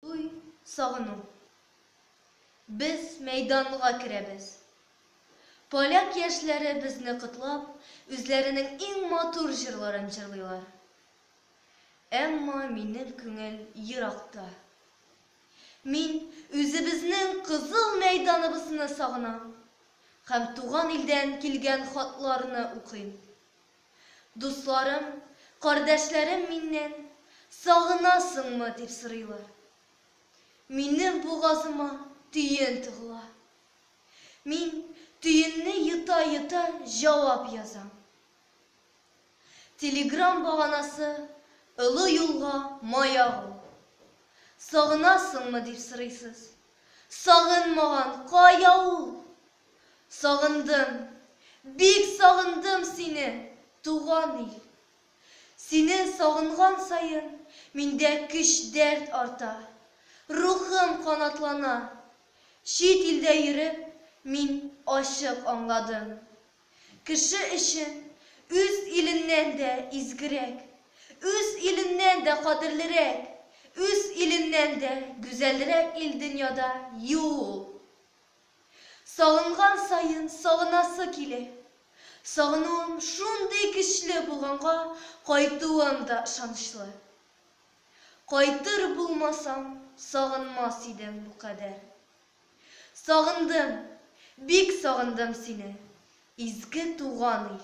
Туй, сагыну. Без мәйданга керәбез. Поляк яшьләре безне котлап, үзләренең иң матур җырларын җырлыйлар. Әмма минем күңел еракта. Мин үзебезнең кызыл мәйданыбызны сагынам һәм туган илдән килгән хатларны укыйм. Дусларым, кардәшләрем миннән сагынасыңмы дип сорыйлар. Минем бугазыма төен тыгыла. Мин төенне йота-йота җавап язам. Телеграм баганасы Олы юлга маяк ул. Сагынасыңмы дип сорыйсыз. Сагынмаган кая ул? Сагындым, бик сагындым сине, туган ил! Сине сагынган саен миндә көч-дәрт арта, рухым канатлана. Чит илдә йөреп, мин ачык аңладым, кеше өчен үз иленнән дә изгерәк, үз иленнән дә кадерлерәк, үз иленнән дә гүзәлрәк ил дөньяда юк! Сагынган саен сагынасы килә. Сагынуым шундый көчле булганга, кайтуым да ышанычлы. Кайтыр булмасам, сагынмас идем бу кадәр. Сагындым, бик сагындым сине, изге туган ил!